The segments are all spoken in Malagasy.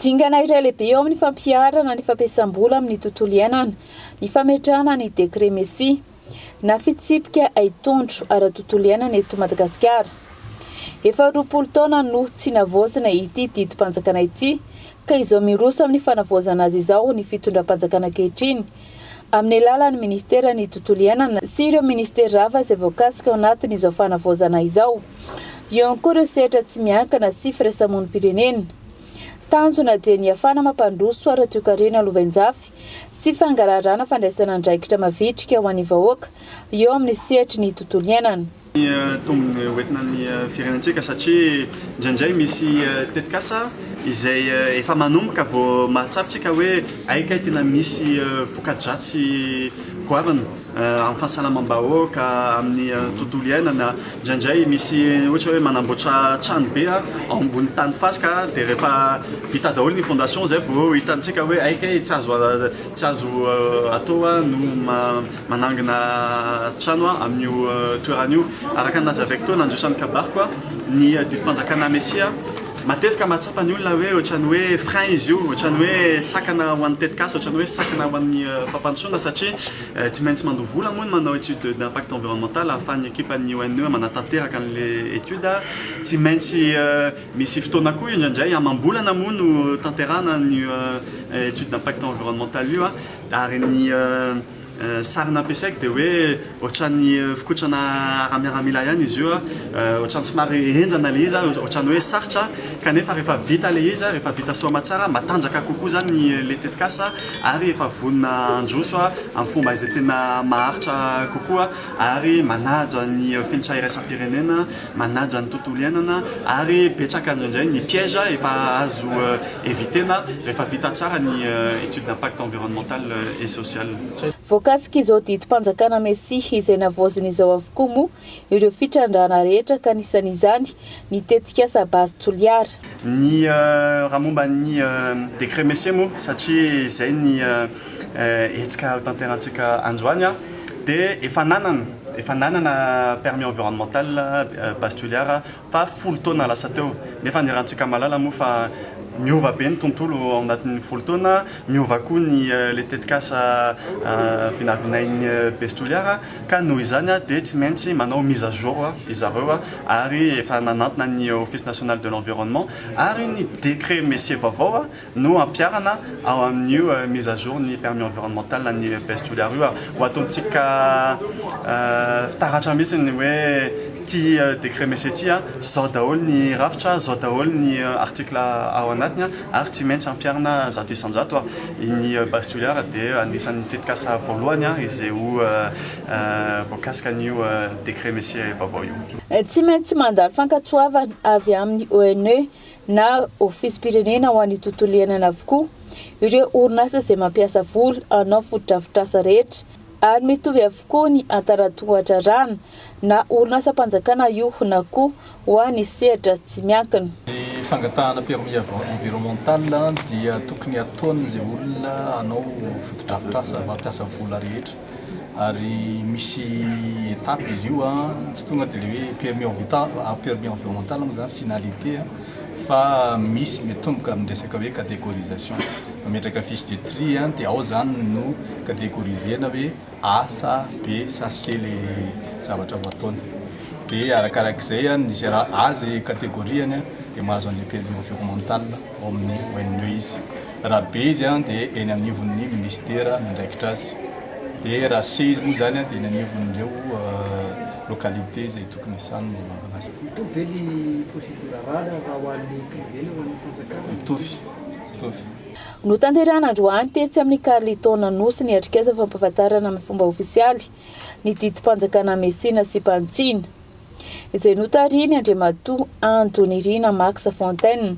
Dingana iray lehibe eo amin'ny fampiharana ny fampiasam-bola amin'ny tontolo iainana ny fametrahana ny Décret Messi na fitsipika haitondro ara-tontolo iainana eto Madagasikara. Efa roapolo taona no tsy navaozina ity didim-panjakana ity ka izao miroso amin'ny fanavaozana azy izao ny fitondram-panjakana ankehitriny amin'ny alalan'ny Ministeran'ny Tontolo Iainana sy ireo Ministera hafa izay voakasika ao anatin'izao fanavaozana izao. Eo ihany koa ireo sehatra tsy miankina sy firaisamonim-pirenena. Tanjona dia ny hiafana mampandroso ara-toekarena lovainjafy sy fangaraharana fandraisana andraikitra mavitrika ho an'ny vahoaka eo amin'ny sehatry ny tontolo iainana. Ny tombony hoentina ny firenentsika satria indraindray misy tetikasa izay efa manomboka vao mahatsapa tsika hoe hay kay tena misy voka-dratsy goavana. amin'ny fahasalamam-bahoaka, amin'ny tontolo iainana, indraindray misy ohatra hoe manamboatra trano be ao ambony tany fasika dia rehefa vita daholo ny fondation izay vao hitantsika hoe hay kay tsy azo tsy azo atao no manangona trano amin'io toerana io, araka ny nazavaiko teo nandritra ny kabariko ny didim-panjakana Mesia. Matetika mahatsapa ny olona hoe ohatran'ny hoe frein izy io, ohatran'ny hoe sakana ho an'ny tetikasa, ohatran'ny hoe sakana ho an'ny fampandrosoana satria tsy maintsy mandoa vola moa ny manao étude d'impact environnemental ahafahan'ny ekipan'ny ONE manatanteraka an'ilay étude, tsy maintsy misy fotoana koa indraindray amam-bolana moa no tanterahana an'io étude d'impact environnemental io ary ny Sary nampiasaiko dia hoe ohatran'ny fikotrana ara-miaramila ihany izy io, ohatran'ny somary henjana ilay izy, ohatran'ny hoe sarotra kanefa rehefa vita ilay izy, rehefa vita soa aman-tsara, matanjaka kokoa izany ilay tetikasa ary efa vonona handroso amin'ny fomba izay tena maharitra kokoa ary manaja ny fenitra iraisam-pirenena. manaja ny tontolo iainana ary betsaka indrindray ny piège efa azo eviter-na rehefa vita tsara ny étude d'impact environnemental et social. Voakasik'izao didim-panjakana Mesia izay navaozin'izao avokoa moa ireo fitrandrahana rehetra ka anisan'izany ny tetikasa Base Toliara. Ny raha momba ny décret Messier moa satria izay ny hetsika hotanterahantsika androany dia efa nanana efa nanana permis environnemental base Toliara fa folo taona lasa teo nefa ny rahantsika mahalala moa fa miova be ny tontolo ao anatin'ny folo taona, miova koa ny ilay tetikasa vinavinain'ny base Toliara. Ka noho izany dia tsy maintsy manao mise à jour ry zareo ary efa nanantona ny Office National de l'Environnement ary ny décret Messier vaovao no ampiharana ao amin'io mise à jour ny permis environnemental an'ny EPS Toliara io ary ho ataontsika fitaratra mihitsy ny hoe ity décret Messier ity zao daholo ny rafitra, zao daholo ny article ao anatiny. ary tsy maintsy ampiharina zato isan-jato ary ny base toliara dia anisan'ny tetikasa voalohany izay ho voakasika an'io décret Messier vaovao io. Tsy maintsy mandalo fankatoavana avy amin'ny ONE na Ofisim-pirenena ho an'ny Tontolo Iainana avokoa ireo orinasa izay mampiasa vola hanao fotodrafitrasa rehetra ary mitovy avokoa ny hatara-tohadrarahana Na orinasam-panjakana io na koa ho an'ny sehatra tsy miankina. Ny fangatahana permis environnemental dia tokony hataon'izay olona hanao fotodrafitrasa mampiasa vola rehetra ary misy étape izy io tsy tonga dia ilay hoe permis envital permis environnemental moa izany finalité fa misy mitomboka amin'ny resaka hoe catégorisation mametraka fiche de tri dia ao izany no catégorisena hoe asa be sase le zavatra ho ataony de arakarak'izay a ny zera azy categoriany a de mahazo an'le prix environnemental ao amin'ny ONE izy raha be izy a de eny anivon'ny ministera miandraikitra azy de raha se izy moa zany a de eny anivon'ireo localités izay tokony hiasany no manao an'azy Mitovy ve ny procédure raha ho an'ny privé na ho an'ny fanjakana? Mitovy, mitovy. Notanterahina androany tetsy amin'ny Carlton Anosy ny atrikasa fampahafantarana amin'ny fomba ofisialy ny didim-panjakana Messina sy Pantsina, izay notarihin'ny Andriamatoa Ando Nirina Max Fontaine,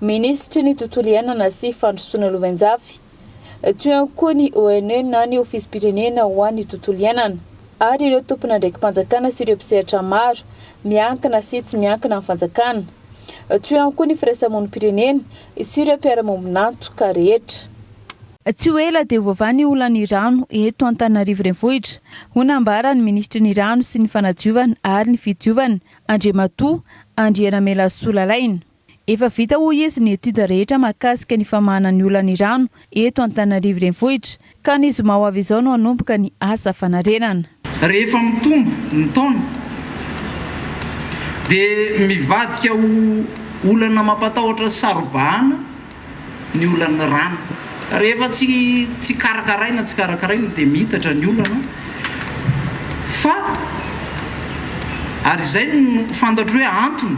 Minisitry ny Tontolo iainana sy Fandrosoana Lovainjafy, teo ihany koa ny ONE na ny Ofisim-pirenena ho an'ny Tontolo iainana, ary ireo tompon'andraiki-panjakana sy ireo mpisehatra maro miankina sy tsy miankina amin'ny fanjakana, teo ihany koa ny firaisamonim-pirenena Sy ireo mpiara-maombin'antoka rehetra. Tsy ho ela dia ho vava ny olan'ny rano eto Antananarivo Renivohitra, hoy nambaran'ny minisitry ny Rano sy ny fanadiovana ary ny fidiovana, Andriamatoa Andrianamelasoa Lalaina. Efa vita hoy izy ny étude rehetra mahakasika ny famahana ny olan'ny rano eto Antananarivo Renivohitra. Ka ny zoma ho avy izao no hanomboka ny asa fanarenana. Rehefa mitombo ny taona dia mivadika ho olana mampatahotra sy saro-bahana ny olan'ny rano. Rehefa tsy karakaraina tsy karakaraina dia miitatra ny olana fa ary izay no fantatro hoe antony.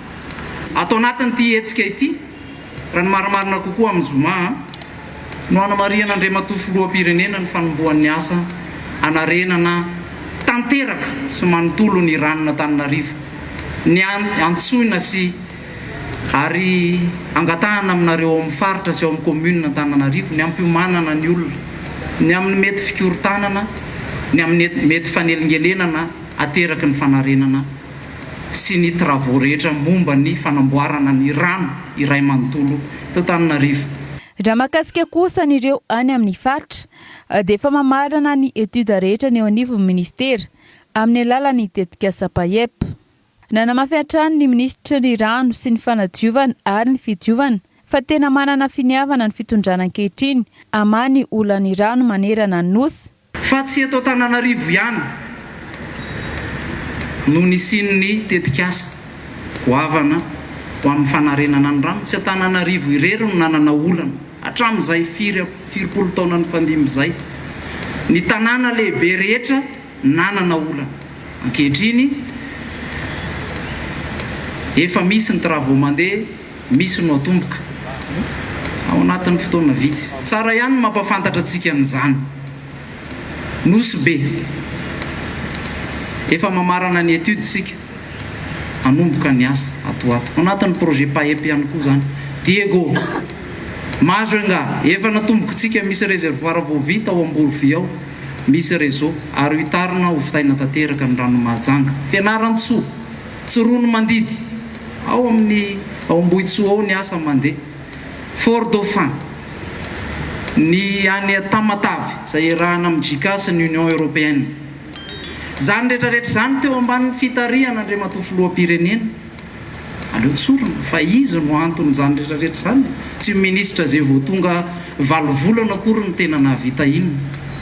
Ato anatin'ity hetsika ity, raha ny marimarina kokoa amin'ny zoma, no hanamarihana Andriamatoa Filoham-pirenena ny fanombohan'ny asa hanarenana tanteraka sy manontolo ny ranon'Antananarivo, ny antsoina sy ary angatahana aminareo ao amin'ny faritra sy ao amin'ny Kaominina Antananarivo ny hampiomanana ny olona ny amin'ny mety fikorontanana, ny amin'ny mety fanelingelenana ateraky ny fanarenana. sy ny travaux rehetra momba ny fanamboarana ny rano iray manontolo eto Antananarivo. Raha mahakasika kosa an'ireo any amin'ny faritra dia efa mamarana ny études rehetra ny eo anivon'ny minisitera amin'ny alalan'ny tetikasa PAEP. Nanamafy hatrany ny minisitry ny Rano sy ny fanadiovana ary ny fidiovana fa tena manana finiavana ny fitondrana ankehitriny hamaha ny olan'ny rano manerana ny Nosy, Fa tsy eto Antananarivo ihany no nisian'ny tetikasa goavana ho amin'ny fanarenana ny rano. Tsy Antananarivo irery no nanana olana hatramin'izay firy firimpolo taona nifandimby izay. Ny tanàna lehibe rehetra nanana olana. Ankehitriny efa misy ny travaux mandeha. Misy no atomboka ao anatin'ny fotoana vitsy. Tsara ihany ny mampahafantatra antsika an'izany. Nosy be. Efa mamarana ny étude isika. Hanomboka ny asa ato ho ato. Ao anatin'ny projet PAEP ihany koa izany. Diego, Majunga, efa natombokintsika. Misy réservoir vao vita ao Amborovy ao. Misy réseau ary hohitarina hovitaina tanteraka ny ranon'i Mahajanga. Fianarantsoa. Tsy ronomandidy. Ao amin'ny ao Ambohitsoa ao ny asa mandeha. Fort Dauphin. Ny any Tamatave izay iarahana amin'ny JICA sy ny Union Européenne. Izany rehetra rehetra izany teo ambanin'ny fitarihan' Andriamatoa Filoham-pirenena. Aleo tsorina fa izy no anton'izany rehetra rehetra izany. Tsy minisitra izay vao tonga valo volana akory no tena nahavita inona.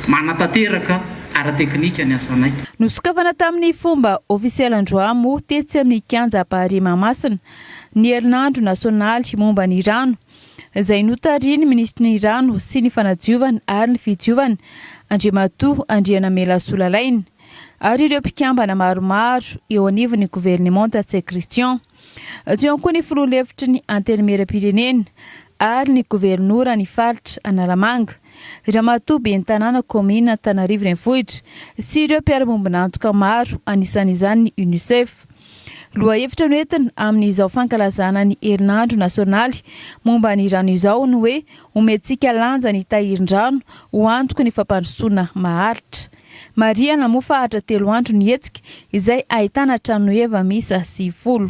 Manatanteraka. ara-teknika ny asanay. Nosokafana tamin'ny fomba ofisialy androamo tetsy amin'ny kianja Ampahare Mahamasina ny herinandro nasionaly momba ny rano, izay notarihin'ny minisitry ny Rano sy ny fanadiovana ary ny fidiovana, Andriamatoa Andrianamela Solalaina, ary ireo mpikambana maromaro eo anivon'ny governemanta Tse Christian. Tsy eo koa ny filoha lefitry ny Antenimierampirenena ary ny governora ny faritra Analamanga, ramatoa ben'ny tanàna kaominina Antanarivo Renivohitra sy ireo mpiara-miombon'antoka maro anisan'izany ny Unicef. Lohahevitra noentina amin'izao fankalazana ny herinandro nasionaly momba ny rano izao ny hoe Omentsika lanja ny tahirin-drano ho antoky ny fampandrosoana maharitra. Marihana moa fa hatra telo andro ny hetsika, izay ahitana tranoheva miisa sivifolo.